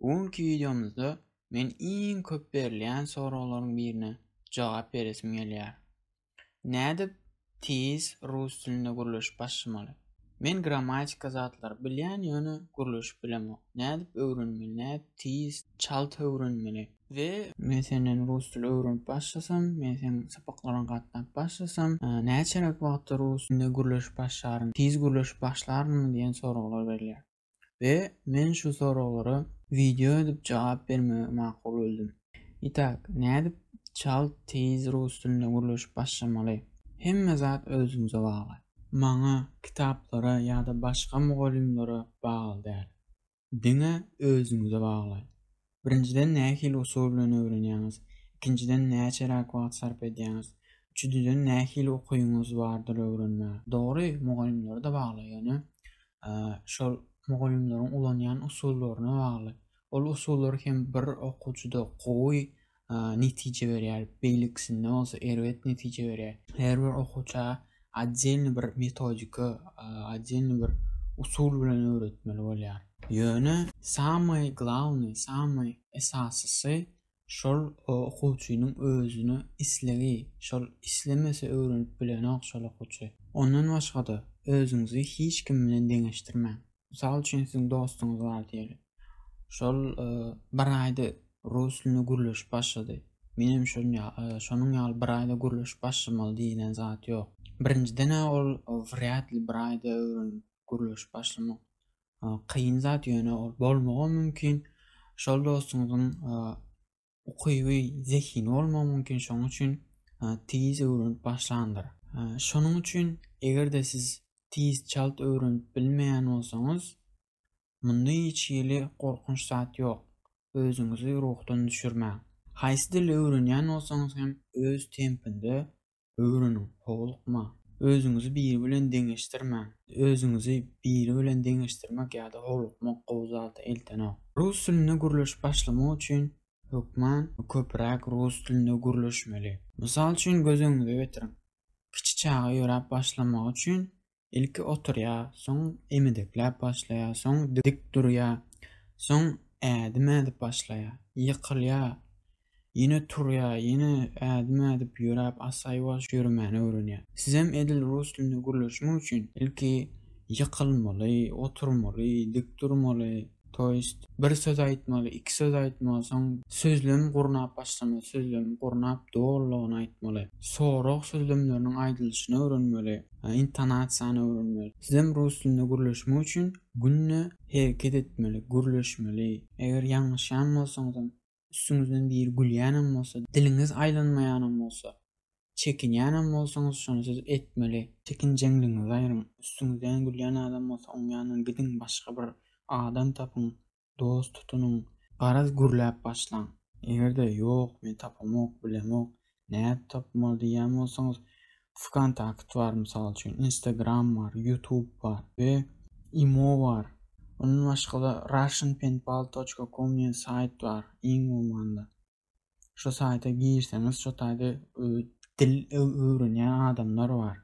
Bu günki wideomyzda men iň köp berilýän soraglaryň birine jogap beresim gelýär. Nädip tiz rus dilinde gürleşip başlamaly? Men grammatika zatlary bilýän ýöne gürleşip bilemok. Nädip öwrenmeli, nädip tiz, çalt öwrenmeli? We men senden rus dili öwrenip başlasam, men seň sapaklaryňa gatnap başlasam, näçeräk wagtda rus dilinde gürleşip başlaryn, tiz gürleşip başlarynmy diýen soraglar berilýär. we men şu soraglara wideo edip jogap bermegi makul bildim. Itak, nädip çalt teýz rus dilinde gürleşip başlamaly? Hemme zat özüňize bagly. Maňa, kitaplara ýa-da başga mugallymlara bagly däl. Diňe özüňize bagly. Birinjiden nähili usul bilen öwrenýäňiz? Ikinjiden näçeräk wagt sarp edýäňiz? Üçüdiden nähili ukyňyz bardyr öwrenmäge? Dogry, mugallymlara-da bagly, ýöne şol mugallymlaryň ulanýan usullaryna bagly. Ol usullar hem bir okuwçyda gowy netije berýär, beýlekisinde bolsa erbet netije berýär. Her bir okuwça Otdelny bir metodika, otdelny bir usul bilen öwretmeli bolýar. Ýöne samaý glawnyý, samaý esasysy şol okuwçynyň özüne islegi, şol islemese öwrenip bilenok şol okuwçy. Ondan başga-da özüňizi hiç kim bilen deňeşdirmäň. Mysal üçin siziň dostuňyz bar diýeli. Şol bir aýda rus dilinde gürleşip başlady. Menem şol şonuň ýaly bir aýda gürleşip başlamaly diýilen zat ýok. Birinjiden-ä ol wrýad li bir aýda öwrenip gürleşip başlamak kyn zat, ýöne ol bolmagam mümkin. Şol dostuňyzyň ukyby, zehini bolmagy mümkin, şonuň üçin tiz öwrenip başlandyr. Şonuň üçin eger-de siz tiz çalt öwrenip bilmeýän bolsaňyz, munda hiç hili gorkunç zat ýok. Özüňizi ruhdan düşürmäň. Haýsy dili öwrenýän bolsaňyz hem öz tempinde Öwreniň, howlukma. Özüňizi biri bilen deňeşdirmäň. Özüňizi biri bilen deňeşdirmek ýa-da howlukmak gowy zada eltenok. Rus dilinde gürleşip başlamak üçin hökman köpräk rus dilinde gürleşmeli. Mysal üçin göz öňüňize getiriň. Kiçi çaga ýöräp başlamagy üçin Ilki oturýar, soň emedekläp başlaýar, soň dik durýar, soň ädim ädip başlaýar, ýykylýar, ýene turýar, ýene ädim ädip ýöräp asaýbaş ýöremäni öwrenýär. Sizem edil rus dilinde gürleşmek üçin ilki ýykylmaly, oturmaly, dik durmaly, To ist, bir söz aýtmaly, iki söz aýtmaly, soň sözlem gurnap başlamaly, sözlem gurnap dolulygyny aýtmaly, sorag sözlemleriniň aýdylyşyny öwrenmeli, intonasiýany öwrenmeli. Sizem rus dilinde gürleşmek üçin günde hereket etmeli, gürleşmeli. Eger ýalňyşýan bolsaňyzam, Üstüňizden biri gülýänem bolsa, diliňiz aýlanmaýanam bolsa, çekinýänem bolsaňyz, şony siz etmeli. Çekinjeňligiňizi aýryň. Üstüňizden gülýän adam bolsa, oň ýanyndan gidiň, başga bir adam tapyň, dost tutunyň. Garaz gürläp başlaň. Eger-de, Ýok, men tapamok, bilemok, nädip tapmaly diýýän bolsaňyz Vkontakt bar mysal üçin, Instagram bar, YouTube bar we imo bar. Ondan başga-da russianpenpal.com diýen saýt bar, iň bolmanda. Şu saýta girseňiz, şu taýda dil öwrenýän adamlar bar.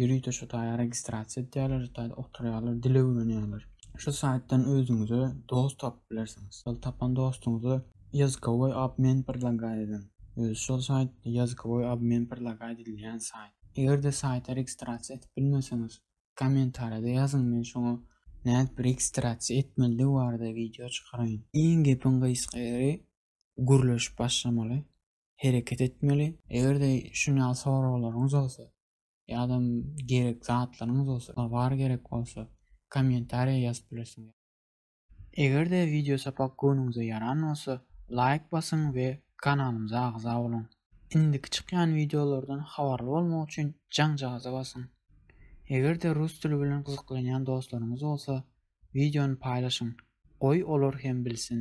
Ýörite şu taýa registrasiýa edýärler, şu taýda oturýarlar, dil öwrenýärler. Şu saýtdan özüňize dost tapyp bilersiňiz. Şol tapan dostuňyza ýazykoway obmen predlagaýt ediň. Özi şol saýt ýazykoway obmen predlagaýt edilýän saýt. Eger-de saýta registrasiýa edip bilmeseňiz, kommentariýada ýazyň, men şoňa nädip registrasiýa etmelidigi barada wideo çykaraýyn. Iň gepiň gysga ýeri, gürleşip başlamaly, hereket etmeli. Eger-de şuň ýaly soraglaryňyz bolsa, ýa-da gerek zatlaryňyz bolsa, tovar gerek bolsa, kommentariýa ýazyp bilersiňiz. Eger-de wideo sapak göwnüňize ýaran bolsa, laýk basyň we kanalymyza agza boluň. Indiki çykýan wideolardan habarly bolmak üçin jaňjagaza basyň. Eger-de rus dili bilen gyzyklanýan dostlaryňyz bolsa, wideony paýlaşyň, goý olar hem bilsin.